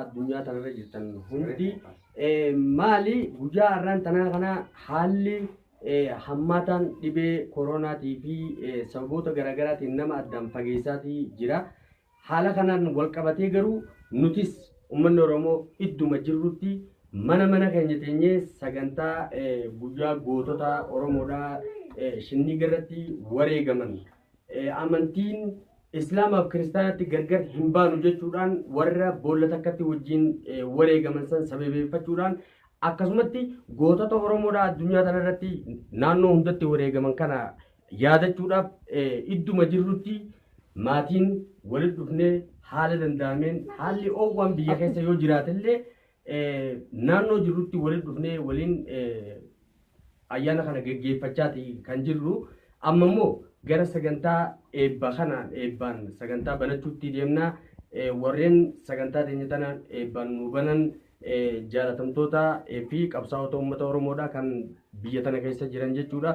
addunyaa tanarra jirtan hundi maali guyyaa har'aan tanaa kana haalli hammaataan dhibee koronaatii fi sababoota garaagaraatiin nama addaan fageessaatii jira. Haala kanaan walqabatee garuu nutis ummanni Oromoo idduma jirrutti mana mana keenya teenyee sagantaa guyyaa gootota Oromoodhaa Shinniigarratti wareegaman amantiin Islaamaaf Kiristaanaatti gargar hin baanu jechuudhaan warra boolla takkatti wajjin wareegaman san sababeeffachuudhaan akkasumatti gootota Oromoodhaa addunyaa tanarratti naannoo hundatti wareegaman kana yaadachuudhaaf idduma jirrutti maatiin walitti dhufnee haala danda'ameen haalli oowwaan biyya keessa yoo jiraatellee naannoo jirrutti walitti dhufnee waliin ayyaana kana geggeeffachaati kan jirru. Amma immoo gara sagantaa eebba kana eebbaan sagantaa banachuutti deemna. Warreen sagantaa teenya tana eebbaan nu banan Jaalatamtoota fi qabsaa'ota uummata Oromoodha kan biyya tana keessa jiran jechuudha.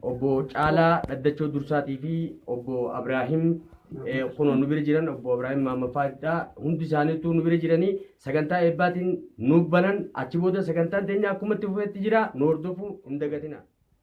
Obbo Caalaa Dhaddachoo Dursaatii fi obbo Abiraahim kunoo nu bira jiran obbo Abiraahim Maammafaadha. Hundi isaaniitu nu bira jiranii sagantaa eebbaatiin nuuf banan achi booda sagantaan teenya akkumatti fufetti jira nu hordofuu hin dagatina.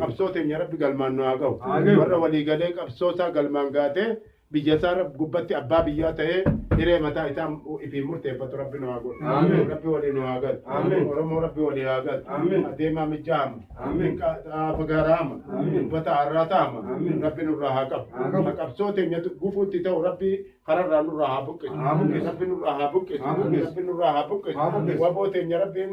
qabsoo teenya rabbi galmaan nu haa gahu warra walii galee qabsoo isaa galmaan gaatee biyya isaa rab- gubbatti abbaa biyyaa ta'ee hiree mataa isaa ifiin murteeffatu rabbi nu haa godhu rabbi walii nu haa galu oromoo rabbi walii haa galu adeemaa mijaa'ama xaafa gaaraama uffata har'aa ta'ama rabbi nurraa haa qabu ha qabsoo teenya gufuutti ta'u rabbi kararraa nurraa haa buqqisu rabbi nurraa haa buqqisu rabbi nurraa haa buqqisu waboo teenya rabbiin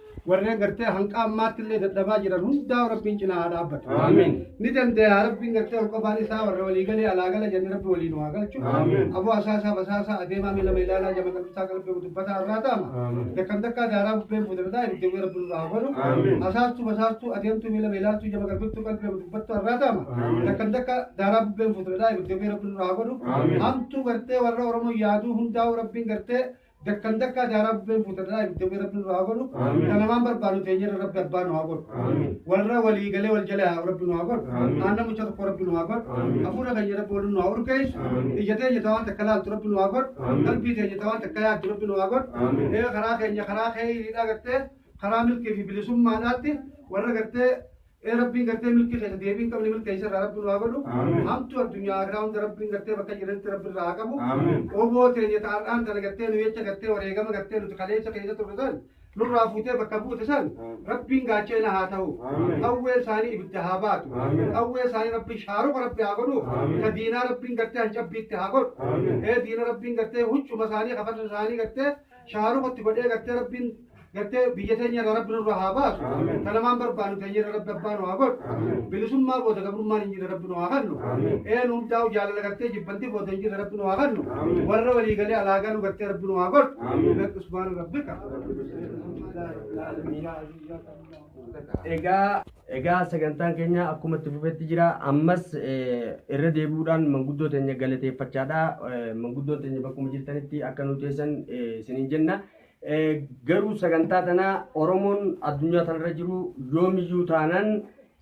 warreen gartee hanqa ammaatti illee dadhabaa jiran hundaa rabbiin cinaa haa dhaabbatu. Aamiin. Ni danda'a rabbiin gartee ol qofaan isaa warra walii galee alaa gala jennee rabbi waliin waa galchu. Aamiin. Aboo asaasaa basaasaa adeemaa miila meelaalaa jama qalbisaa qalbii dubbataa irraa taama. Aamiin. Dakkam dakkaa daaraa bubbeen fuudardaa ibidda wee rabbi nurraa haa godhu. Aamiin. Asaastuu basaastuu adeemtuu miila meelaaltuu jama qalbiftuu qalbii dubbattuu irraa taama. Aamiin. Dakkam dakka daaraa bubbeen fuudardaa ibidda wee rabbi nurraa haa godhu. Aamiin. Hamtuu gartee warra Oromoo yaaduu hundaa'u rabbiin gartee Dakkan dakkaa daaraa bubbeen fuuta dhalaa ibidda bu'ee rabbi nurraa haa godhu. Amiin. Kan namaan barbaadu teenyerra rabbi abbaa nu haa godhu. Amiin. Warra walii galee wal jala haa rabbi nu haa godhu. Amiin. Aannan mucha tokko rabbi nu haa godhu. Amiin. Hafuura keenya rabbi waliin nu haa urgeessu. Amiin. Ija teenya tawaan takka laaltu rabbi nu haa godhu. Amiin. Qalbii teenya tawaan takka yaaddu rabbi nu haa godhu. Amiin. Ee karaa keenya karaa keeyriidhaa gartee karaa milkii fi bilisummaadhaatti warra gartee Ee Rabbiin gartee milkii keessa deebii hin qabne milkeessa irraa Rabbi nu haa godhu. Amiin. Hamtuu addunyaa irraa hunda Rabbiin gartee bakka jiranitti Rabbi irraa haa qabu. Amiin. Oboo teenya ta'arraan tana gartee nu jecha gartee wareegama gartee nuti kaleessa keessa turre san nurraa fuutee bakka buute san Rabbiin gaacha'ina haa ta'u. Amiin. Qawwee isaanii ibidda haa baatu. Amiin. Qawwee isaanii Rabbiin shaaruqa Rabbi haa godhu. Amiin. Ka diinaa Rabbiin gartee hancabbiitti haa godhu. Amiin. Ee diina Rabbiin gartee huccuma isaanii kafarsa isaanii gartee shaaruqa itti godhee gartee rabbiin gartee biyya teenya irraa rabbi nurraa haa baasu kan namaan barbaannu teenya irra rabbi abbaa nu haa godhu bilisummaa booda gabrummaan hin jirre rabbi nu haa kennu een hundaa'u jaalala gartee jibbantii booda hin jirre rabbi nu haa kennu warra walii galee alaagaa nu gartee rabbi nu haa godhu lakki subhaana rabbika Egaa Egaa sagantaan keenya akkuma itti fufetti jira. Ammas irra deebi'uudhaan manguddoo teenya galateeffachaadha. Manguddoon teenya bakkuma jirtanitti akka nu teessan isiniin jenna. Garuu sagantaa tana Oromoon addunyaa tanarra jiru yoomiyyuu taanaan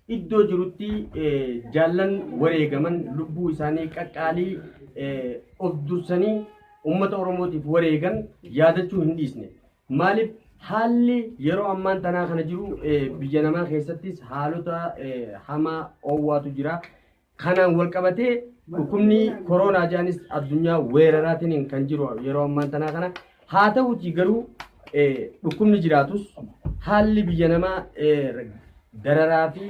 iddoo jirutti jaallan wareegaman lubbuu isaanii qaqqaalii of dursanii uummata Oromootiif wareegan yaadachuu hin dhiisne. Maaliif haalli yeroo ammaan tanaa kana jiru biyya namaa keessattis haalota hamaa oowwaatu jira. Kanaan wal qabatee dhukkubni koroonaa jedhanis addunyaa weeraraatiin kan jiru yeroo ammaan tanaa kana. Haa ta'uutii garuu dhukkubni jiraatus haalli biyya namaa dararaa fi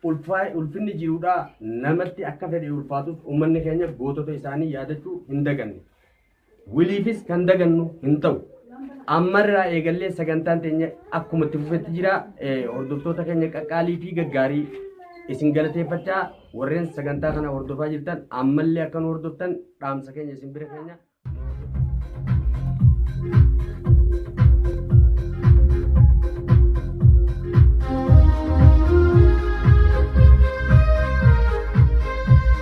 ulfinni jirudha namatti akka fedhe ulfaatus uummanni keenya gootota isaanii yaadachuu hin daganne. Wiliifis kan dagannu hin ta'u. Ammarraa eegallee sagantaan teenya akkuma itti fufetti jira. Hordoftoota keenya qaqqaalii fi gaggaarii isin galateeffachaa warreen sagantaa kana hordofaa jirtan ammallee akka nu hordoftan dhaamsa keenya isin bira keenya.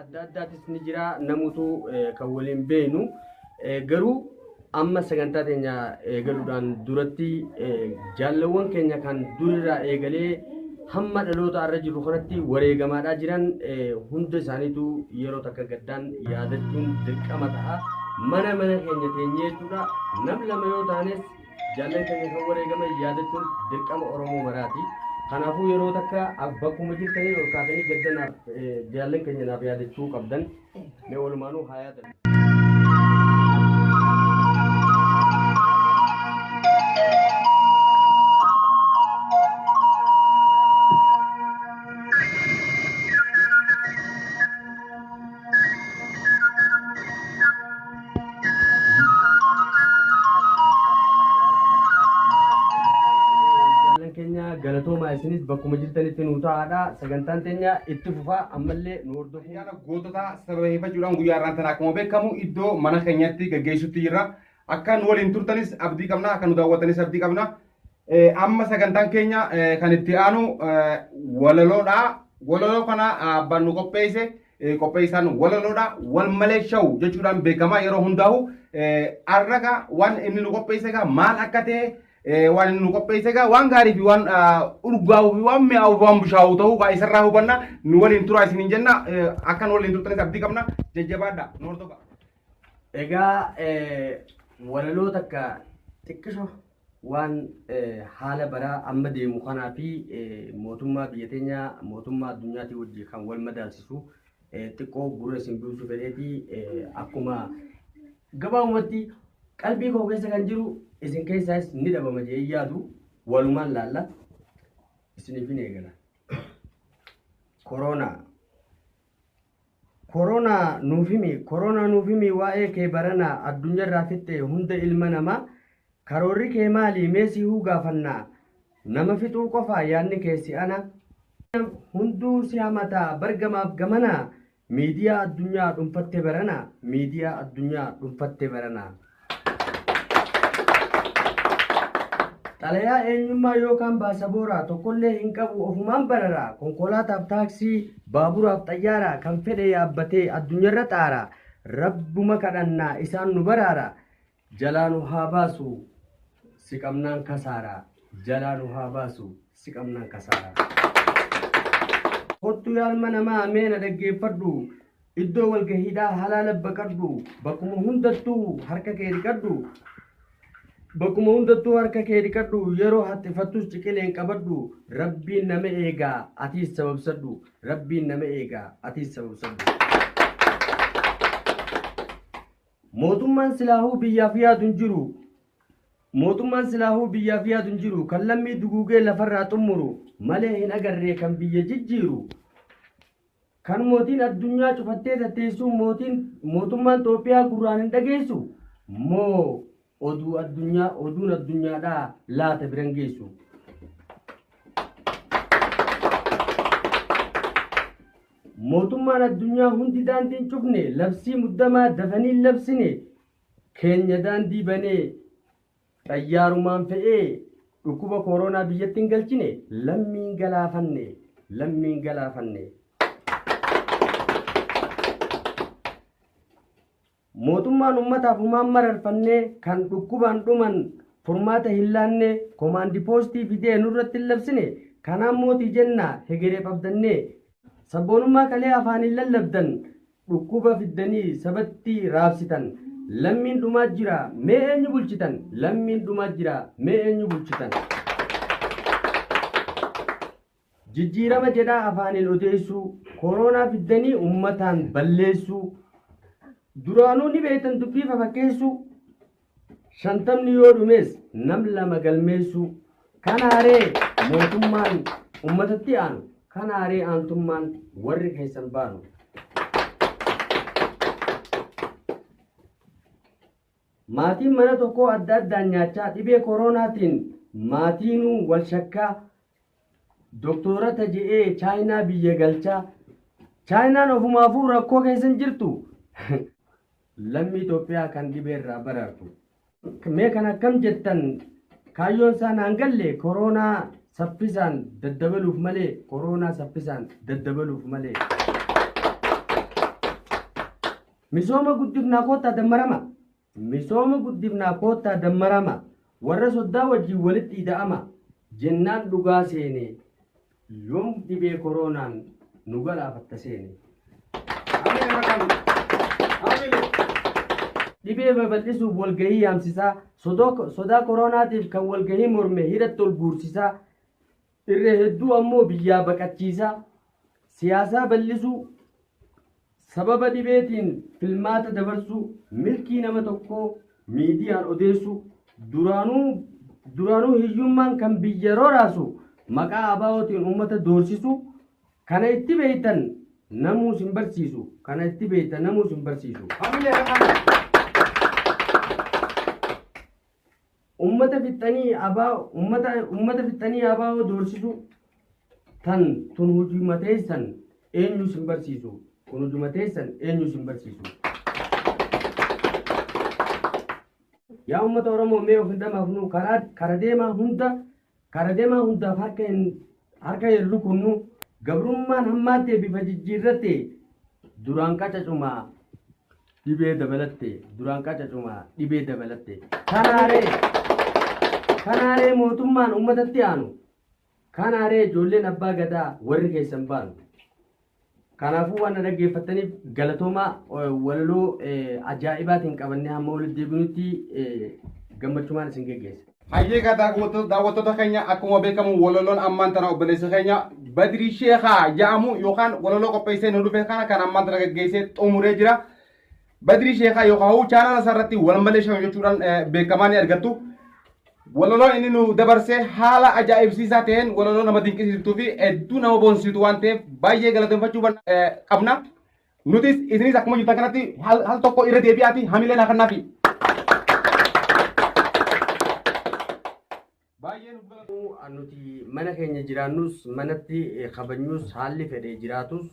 adda addaatis ni jira namutu kan waliin beeknu garuu amma sagantaa keenya eegaluudhaan duratti jaallawwan keenya kan durirraa eegalee hamma dhaloota irra jiru kanatti wareegamaadhaa jiran hunda isaaniitu yeroo takka gaddaan yaadachuun dirqama ta'a mana mana keenya teenyee jechuudha nam lama yoo taanes Jaallan keenya kan wareegaman yaadachuun dirqama Oromoo maraati. Kanaafuu yeroo takka bakkuma jirtanii ol kaatanii gadda naaf jaallan keenya naaf yaadachuu qabdan mee walumaanuu haa yaadan. Jaallan keenya galatoomaa isinis bakkuma jirtanitti nuu ta'aadha. Sagantaan teenya itti fufaa ammallee nu hordofuu. Ayyaana gootota sababeeffachuudhaan guyyaa irraan tana akkuma beekamu iddoo mana keenyatti gaggeessutti jirra. Akka nu waliin turtanis abdii qabna, akka nu daawwatanis abdii qabna. Amma sagantaan keenya kan itti aanu walaloodha. Walaloo kana abbaan nu qopheesse qopheessaan walaloodha. Wal malee shawu jechuudhaan beekama yeroo hundaa'u. Arraga waan inni nu qopheesse egaa maal akka ta'e waan inni nu qopheesse egaa waan gaarii fi waan urgaa'uu fi waan mi'aawuu fi waan bushaa'uu ta'uu egaa isarraa hubanna nu waliin turaa isiniin jenna akka nu waliin turtanis abdii qabna jajjabaadha nu hordofaa. Egaa walaloo takka xiqqisho waan haala baraa amma deemu kanaa fi mootummaa biyya teenya mootummaa addunyaatii wajji kan wal madaalsisu xiqqoo gurra isin buusu fedheeti akkuma gabaabumatti qalbii koo keessa kan jiru isin keessaas ni dhabama jee yaadu walumaan laalla isiniif hin eegala. Koroonaa Koronaa nuuf himi Koronaa nuuf himi waa'ee kee baranaa Addunyarraa fixxe hunda ilma namaa Karoorri kee maali mee sihuu gaafanna Nama fixuu qofaa yaadni kee si'ana Hunduu si hamata bar gamaaf gamana Miidiyaa addunyaa dhunfatte barana Miidiyaa addunyaa dhunfatte barana. Xalayaa eenyummaa yookaan baasabooraa tokkollee hin qabu ofumaan bararaa konkolaataaf taaksii baaburaaf xayyaaraa kan fedhe yaabbatee addunyaarra xaaraa rabbuma kadhannaa isaan nu baraara jalaa nu haa baasu si qabnaan kasaaraa jalaa nu haa baasu si qabnaan kasaaraa. Kottu yaalma namaa meena dhaggeeffadhu Iddoo walgahiidhaa halaala baqadhu, bakkuma hundattuu harka kee dhiqadhu. Bakkuma hundattuu harka kee dhiqadhu, yeroo haxxifattus ciqileen qabadhu. Rabbiin nama eega, atiis sababsadhu. Rabbiin nama eega, atiis sababsadhu. Mootummaan silaahuu biyyaaf yaadu hin jiru. Mootummaan silaahuu biyyaaf yaadu hin jiru. Kan lammii duguugee lafarraa xummuru malee hin agarree kan biyya jijjiiru. Kan mootiin addunyaa cufattee tatteessuun mootiin mootummaan Xoophiyaa gurraan hin dhageessu moo oduu addunyaa oduun addunyaadhaa laata biran geessu. Mootummaan addunyaa hundi daandiin cufne labsii muddamaa dafanii labsine keenya daandii banee Xayyaarumaan fe'ee dhukkuba kooronaa biyyatti hin galchine lammii hin galaafanne lammii hin galaafanne. Mootummaan ummataaf humaan mararfannee kan dhukkubaan dhuman furmaata hin laanne komaandi poostii fidee nurratti hin labsine kanaan mootii jenna hegereef abdannee sabboonummaa kalee afaaniin lallabdan Dhukkuba fiddanii sabatti raabsitan Lammiin dhumaa jira mee eenyu bulchitan Lammiin dhumaa jira mee eenyu bulchitan Jijjiirama jedhaa afaaniin odeessuu Koroonaa fiddanii ummataan balleessuu Duraanuu ni beektan dubbii fafakkeessuu shantamni yoo dhumees nam lama galmeessuu kan haaree mootummaan ummatatti aanu kan haaree aantummaan warri keessan baanu. Maatiin mana tokkoo adda addaan nyaachaa dhibee kooroonaatiin maatiinuu wal shakkaa doktoorata je'ee chaayinaa biyya galchaa chaayinaan ofumaafuu rakkoo keessa hin jirtu Lammii Itoophiyaa kan dhibeerraa baraartu. Mee kan akkam jettan kaayyoon isaa naan galle koroonaa saffisaan daddabaluuf malee koroonaa saffisaan daddabaluuf malee. Misooma guddifnaa koottaa dammarama. Misooma guddifnaa koottaa dammarama. Warra soddaa wajjin walitti ida'ama. Jennaan dhugaa seene Yoom dhibee koroonaan nu galaafatta seene? Ameen haa ta'u. Ameen. Dhibee babal'isuuf walgahii yaamsisaa, sodoo- sodaa koroonaatiif kan walgahii morme hidhatti ol guursisaa, irra hedduu ammoo biyyaa baqachiisaa, siyaasaa bal'isuu, Sababa dhibeetiin filmaata dabarsuu, milkii nama tokkoo miidiyaan odeessuu, duraanuu duraanuu hiyyummaan kan biyya roraasu maqaa ABOtiin uummata doorsisuu, kana itti beektan namuu sin barsiisu, kana itti beektan namuu sin barsiisu. Ummata fixxanii abaa ummata ummata fixxanii abaa'oo doorsisuu tan tun hujuma teessan eenyu isin barsiisu kun hujuma teessan eenyu isin barsiisu. Yaa ummata Oromoo mee of hin dhamaafnu karaa kara deemaa hunda Kara demaa hundaaf harka hin harka hin rukunnu gabrummaan hammaattee bifa jijjiirratte duraan qacacuma dhibee dabalatte duraan qacacuma dhibee dabalatte kanaaree kanaaree mootummaan uummatatti aanu kanaaree ijoolleen abbaa gadaa warri keessan baanu Kanaafuu waan na dhaggeeffattaniif galatoomaa walaloo ajaa'ibaatiin qabannee hamma walitti deebinutti gammachumaan isin geggeessa. Hayyee kaa daawwattoota keenya akkuma beekamu walaloon ammaan tana obboleessa keenya Badrii Sheekaa jedhamu yookaan walaloo qopheessee nu dhufe kana kan ammaan tana gaggeessee xumuree jira. Badrii Sheekaa yookaan hawuu chaanala isaa irratti walmalee shan jechuudhaan beekamaa ni argattu. Walaloo inni nu dabarse haala ajaa'ibsiisaa ta'een walaloo nama dinqisiistuu fi hedduu nama boonsitu waan ta'eef baay'ee galateeffachuu qabna. Nutis isinis akkuma jirtan kanatti hal tokko irra deebi'aati hamilee naa kannaafi. Baay'ee nuuf galatoomuu nuti mana keenya jiraannus manatti kabajnus haalli fedhe jiraatus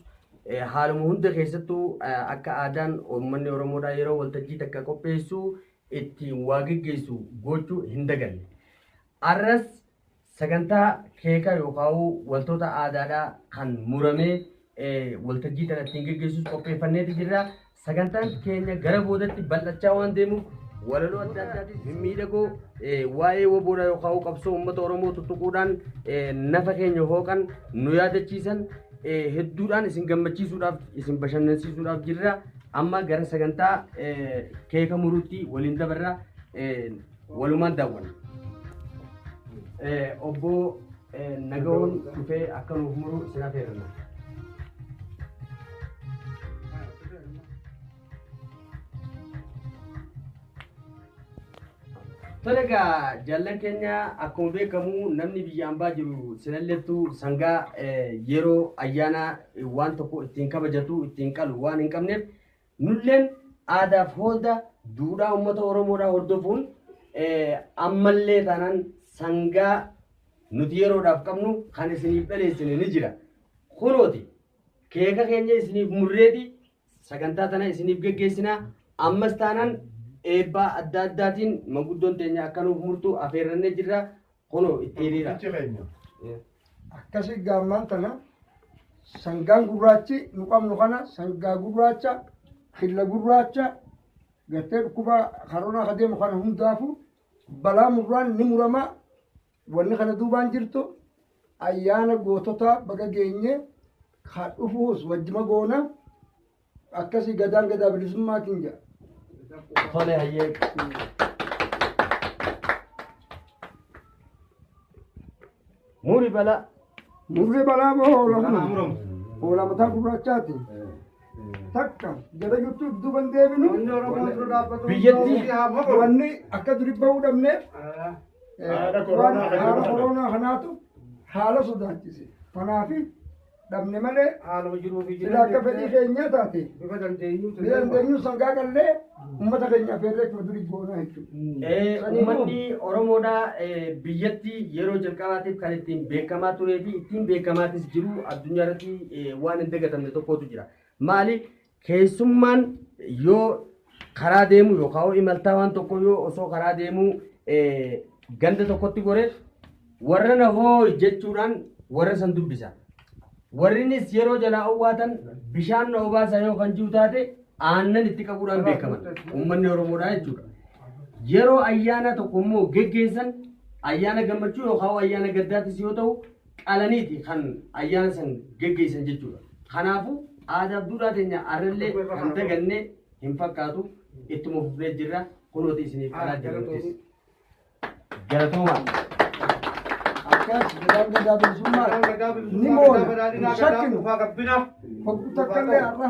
haaluma hunda keessattuu akka aadaan uummanni Oromoodhaa yeroo waltajjii takka qopheessu ittiin waa geggeessu gochuu hin daganne. Arras sagantaa keeka yookaan wantoota aadaadhaa kan muramee waltajjii tana ittiin geggeessus qopheeffanneeti jirra. Sagantaan keenya gara boodatti bal'achaa waan deemuuf walaloo adda addaatiin mimmiidhagoo waa'ee waboodhaa yookaan qabsoo uummata Oromoo tuttuquudhaan nafa keenya hooqan nu yaadachiisan hedduudhaan isin gammachiisuudhaaf isin bashannansiisuudhaaf jirra. Amma gara sagantaa keeka muruutti waliin dabarra. walumaan daawwanna. Obbo Nagawoon dhufee akka nuuf muru sin affeerranna. Tole egaa jaallan keenya akkuma beekamu namni biyya ambaa jiru sinalleettu sangaa yeroo ayyaana waan tokko ittiin kabajatu ittiin qalu waan hin qabneef Nulleen aadaaf hoolta duudhaa uummata Oromoodhaa hordofuun ammallee taanaan sangaa nuti yeroodhaaf qabnu kan isiniif dhaleessine ni jira. Kunooti keeka keenya isiniif murreeti sagantaa tana isiniif geggeessina. Ammas taanaan eebbaa adda addaatiin maguddoon teenya akka nuuf murtu afeerrannee jirra. Kunoo itti hiriira. Qulqullichi keenya. Eh. Akkasii gaammaan tana sangaan gurraachi nu qabnu kana sangaa gurraacha killa gurraacha gartee dhukkuba karoonaa ka deemu kana hundaafu balaa murraan ni murama wanni kana duubaan jirtu ayyaana goototaa baga geenye ka dhufuus wajjima goona Akkasi gadaan gadaa bilisummaatiin jedha. Tole hayyee. Muri balaa. Murri balaa boo hoolama. Hoolamataa gurraachaati. Takka jala jirtuuf duuban deebinu. Biyyattii. Wanni akka duri bahuu dhabneef. Haala koronaa kanaatu haala sodaachise. Kanaafi dhabne malee haaluma jiruu fi sila akka fedhii keenyaa taate bifa dandeenyuu ni dandeenyu sangaa qallee ummata keenyaaf feerree akkuma durii goonaa jechuudha. Eh, Saniifuu- Uummanni Oromoodhaa eh, biyyatti yeroo jalqabaatiif kan ittiin beekamaa turee fi ittiin beekamaatis jiru addunyaa irratti eh, waan hin dagatamne tokkotu jira. Maali? Keessummaan yoo karaa deemuu yookaan yoo imaltaa waan tokko yoo osoo karaa deemuu eh, ganda tokkotti gore warra na hooy jechuudhaan warra san dubbisa. Warrinis yeroo jalaa owwaatan bishaan na obaasa yoo kan jiru taate aannan itti qabuudhaan beekaman uummanni Oromoodhaa jechuudha. Yeroo ayyaana tokko immoo geggeessan ayyaana gammachuu yookaan ayyaana gaddaatis yoo ta'u qalaniiti kan ayyaana san geggeessan jechuudha. Kanaafuu aadaaf duudhaa teenya arrallee kan daganne hin fakkaatu ittuma fufnee jirra kunooti isiniif qalaa jirruttis. Galatoomaa. Akkas jedhaan gadaa bilisummaa ni moona hin shakkinu. Fokkuu takkallee har'a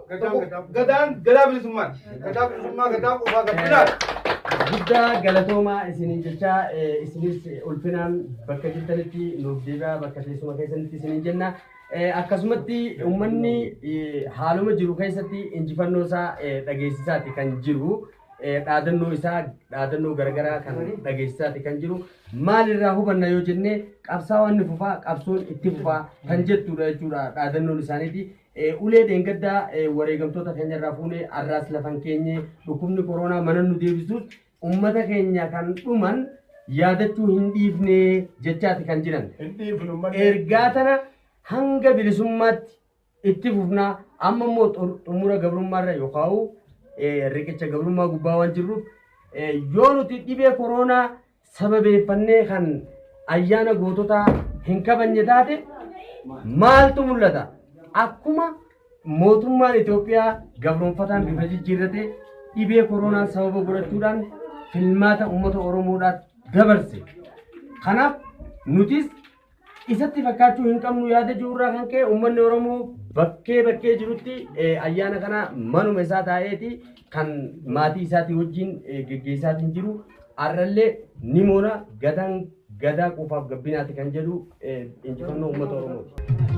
Gadaan gadaa bilisummaati. Gadaa bilisummaa gadaa qofaa gabbinaadha. Guddaa galatoomaa isiniin jechaa eh, isinis eh, ulfinaan bakka jirtanitti nuuf deebi'aa bakka teessuma keessanitti isiniin jenna. Eh, Akkasumatti uummanni eh, haaluma jiru keessatti injifannoo isaa eh, dhageessisaati kan jiru. Eh, Dhaadannoo isaa dhaadannoo garaagaraa kan dhageessisaati kan jiru. Maalirraa hubanna yoo jenne qabsaawaan ni fufaa qabsoon itti fufaa kan jettudha jechuudha dhaadannoon isaaniiti. Ulee dheengaddaa wareegamtoota keenya irraa fuune arraas lafan keenye dhukkubni koroonaa mana nu deebisuus ummata keenya kan dhuman yaadachuu hin dhiifne jechaati kan jiran. Ergaa tana hanga bilisummaatti itti fufnaa amma immoo xumura gabrummaa irra yookaan riqicha gabrummaa gubbaa waan jirruuf yoo nuti dhibee koroonaa sababeeffannee kan ayyaana goototaa hin kabajne taate maaltu mul'ata? Akkuma mootummaan Itoophiyaa gabroonfataan bifa jijjiirrate dhibee koronaan sababa godhachuudhaan filmaata uummata Oromoodhaaf dabarse. Kanaaf nutis isatti fakkaachuu hin qabnu yaada jiru irraa kan ka'e uummanni Oromoo bakkee bakkee jirutti eh, ayyaana kana manuma isaa taa'eeti kan maatii isaatii wajjin eh, geggeessaatiin jiru har'allee ni moona gadaan gadaa quufaaf gabbinaati kan jedhu eh, injifannoo uummata Oromooti.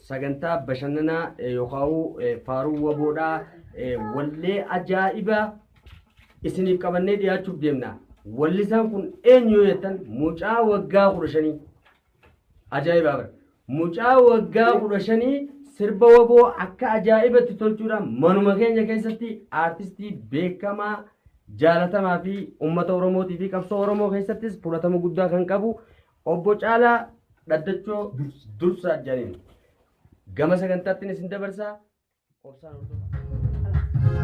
Sagantaa bashannanaa yookaan faaruu waboodhaa wallee ajaa'ibaa isiniif qabannee dhiyaachuuf deemna. Wallisaan kun eenyu yoo jettan mucaa waggaa kudha shanii. Ajaa'ibaa bara. Mucaa waggaa kudha shanii sirba waboo akka ajaa'ibatti tolchuudhaan manuma keenya keessatti aartistii beekamaa jaalatamaa fi uummata Oromootii fi qabsoo Oromoo keessattis fudhatama guddaa kan qabu Obbo Caalaa Dhaddachoo Dursaa Janiin gama sagantaattiin isin dabarsaa obsaan hordofaa.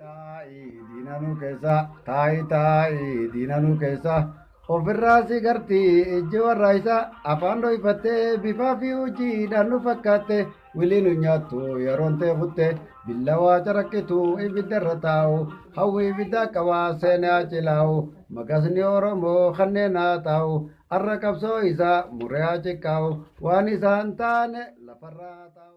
Taa'i diinanuu keessa taa'i taa'i diinanuu keessa ofirraa si garti ijji warra isa afaan dhoyfattee bifaa fi hojiidhaan nu fakkaatte wiliin nu nyaattu yeroon ta'e futte billawaa caraqqitu ibidda irra taa'u hawwi ibiddaa qabaa seenaa cilaa'u maqasni oromoo kanneen haa taa'u har'a qabsoo isaa muree haa ciqqaa'u waan isaan taane lafarraa haa taa'u.